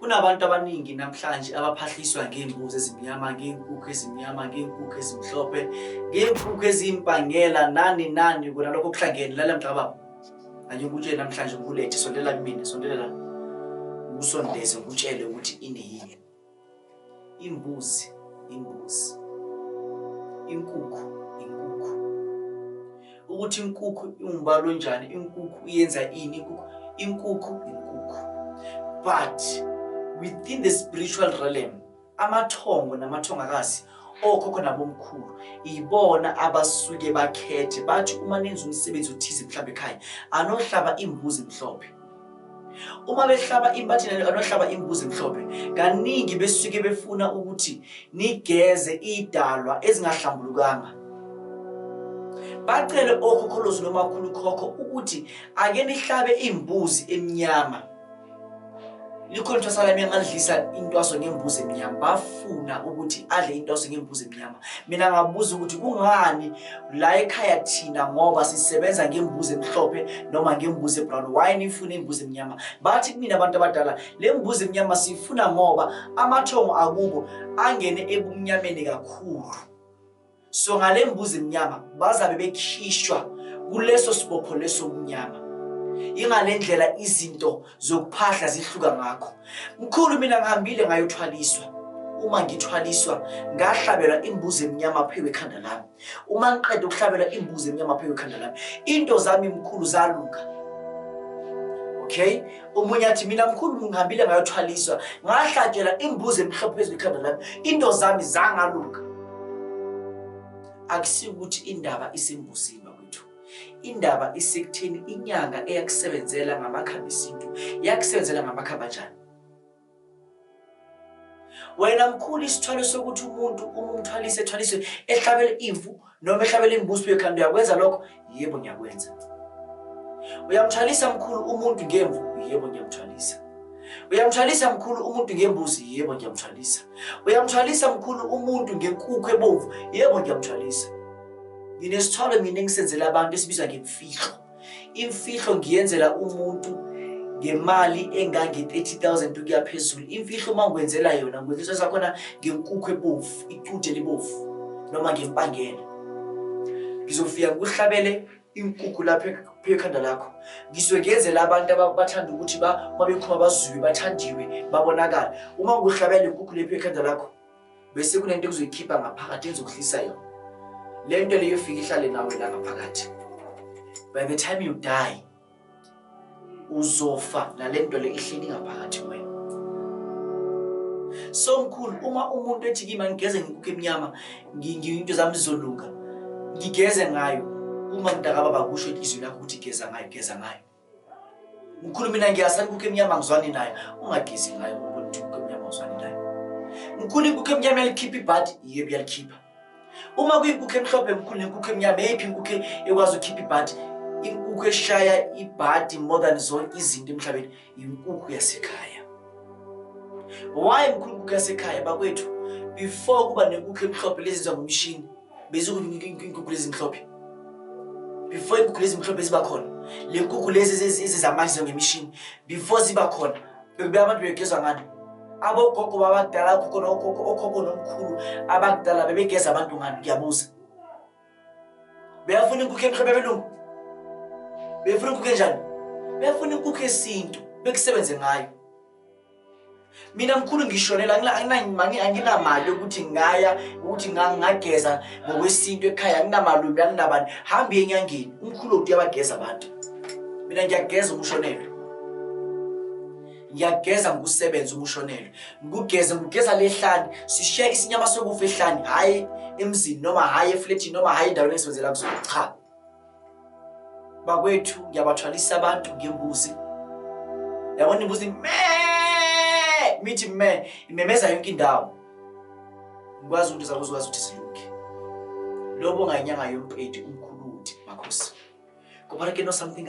Kunabantu abaningi namhlanje abaphahliswa ngey'mbuzi ezimnyama, ngey'nkukhu ezimnyama, ngey'nkukhu ezimhlophe, ngey'nkukhu eziyimpangela nani nani kona lokho kuhlangene lala mgqababa. Ake ngikutshele namhlanje ngikulethe sondela kumina, sondela la. Ngikusondeze ngikutshele ukuthi ineyini. Imbuzi, imbuzi. Inkukhu, inkukhu. Ukuthi inkukhu iwumbalo njani, inkukhu yenza ini, inkukhu, inkukhu, inkukhu. But within the spiritual realm, amathongo namathongakazi okhokho nabomkhulu yibona abasuke bakhethe bathi uma nenza umsebenzi othize mhlawumbe ekhaya anohlaba imbuzi mhlophe Uma behlaba impathe nalo anohlaba imbuzi mhlophe, kaningi besuke befuna ukuthi nigeze idalwa ezingahlambulukanga. Bacele okhokholozi nomakhulu khokho ukuthi ake nihlabe imbuzi emnyama. Likhona ithwasa lami angalidlisa intwaso ngembuzi emnyama. Bafuna ukuthi adle intwaso ngembuzi Yabo. Mina ngabuza ukuthi kungani la ekhaya thina ngoba sisebenza ngembuzi emhlophe noma ngembuzi ebrown why nifuna imbuzi emnyama bathi kumina abantu abadala le mbuzi emnyama siyifuna ngoba amathongo akubo angene ebumnyameni kakhulu so ngale mbuzi emnyama bazabe bekhishwa kuleso sibopho leso mnyama ingale ndlela izinto zokuphahla zihluka ngakho mkhulu mina ngihambile ngayothwaliswa uma ngithwaliswa ngahlabelwa imbuzi emnyama phewe ekhanda lami uma ngiqeda ukuhlabelwa imbuzi emnyama phewe ekhanda lami into zami mkhulu zalunga okay omunye athi mina mkhulu ngihambile ngayothwaliswa ngahlatshelwa imbuzi emhlophe phezu kwekhanda lami into zami zangalunga akusikuthi indaba isembuzini Indaba isekuthini inyanga eyakusebenzela ngamakhambi esintu yakusebenzela ngamakhambi anjani? Wena mkhulu isithwalo sokuthi umuntu uma umthwalise ethwaliswe ehlabele imvu noma ehlabele imbuzi uye khanda uyakwenza lokho? Yebo ngiyakwenza. Uyamthwalisa mkhulu umuntu ngemvu? Yebo ngiyamthwalisa. Uyamthwalisa mkhulu umuntu ngembuzi? Yebo ngiyamthwalisa. Uyamthwalisa mkhulu umuntu ngenkukhu ebomvu? Yebo ngiyamthwalisa. nginesithwalo mina engisenzela abantu esibiza ngemfihlo imfihlo ngiyenzela umuntu ngemali engange-30000 ukuya phezulu imfihlo uma ngikwenzela yona ngikwenziso sakhona ngenkukhu ebovu icude libovu noma ngempangela ngizofika ngikuhlabele inkukhu lapho phekhanda lakho ngizwe ngenzela abantu abathanda ukuthi uma bekhuma bazwiwe bathandiwe babonakala uma ngikuhlabela inkukhu lephekhanda lakho bese kunento ekuzoyikhipha ngaphakathi ezokuhlisa yona le nto leyo fika ihlale nawe la ngaphakathi by the time you die uzofa nale nto le ihleli ngaphakathi wena so mkhulu uma umuntu ethi kima ngigeze ngikukho emnyama into zami zizolunga ngigeze ngayo uma mntakababa kusho inhliziyo lakho ukuthi geza ngayo geza ngayo Mkhulu mina ngiyasa ikukho emnyama ngizwani naye ungagezi ngayo ngoba ukuthi ikukho emnyama ngizwani naye. Mkhulu ikukho emnyama yalikhipha ibhadi yiyo buyalikhipha. Uma kuyikukho emhlophe mkhulu nekukho emnyama eyiphi inkukhu ekwazi ukukhipha ibhadi inkukhu eshaya ibhadi more than zonke izinto emhlabeni yinkukhu yasekhaya. Why mkhulu inkukhu yasekhaya bakwethu before kuba nenkukhu emhlophe lezi zangomshini bezikunike inkukhu lezimhlophe before inkukhu lezimhlophe ziba khona le nkukhu lezi ezizamanje ngemishini before ziba khona bekubuya abantu begezwa ngani abogogo babadala okhokho nokhokho okhokho nomkhulu abakudala bebegeza abantu ngani ngiyabuza beyafuna inkukhu emhlophe belungu beyafuna inkukhu enjani beyafuna inkukhu yesintu bekusebenze ngayo mina mkhulu ngishonela anginamali yokuthi ngaya ukuthi ngageza ngokwesintu ekhaya anginamalubi anginabani hambi enyangeni umkhulu okuthi uyabageza abantu mina ngiyageza umshonelwe ngiyageza ngokusebenza umshonelwe ngikugeze ngigeza lehlani sishiya isinyama sokufa ehlani hhayi emzini noma hhayi efletini noma hhayi endaweni esebenzela kuzona cha bakwethu ngiyabathwalisa abantu ngembuzi yabona imbuzi me mithi me imemeza yonke indawo ngikwazi ukuthi zakho uzokwazi ukuthi silunge lobo ngayinyanga yompedi umkhuluti makhosi kubalekeno something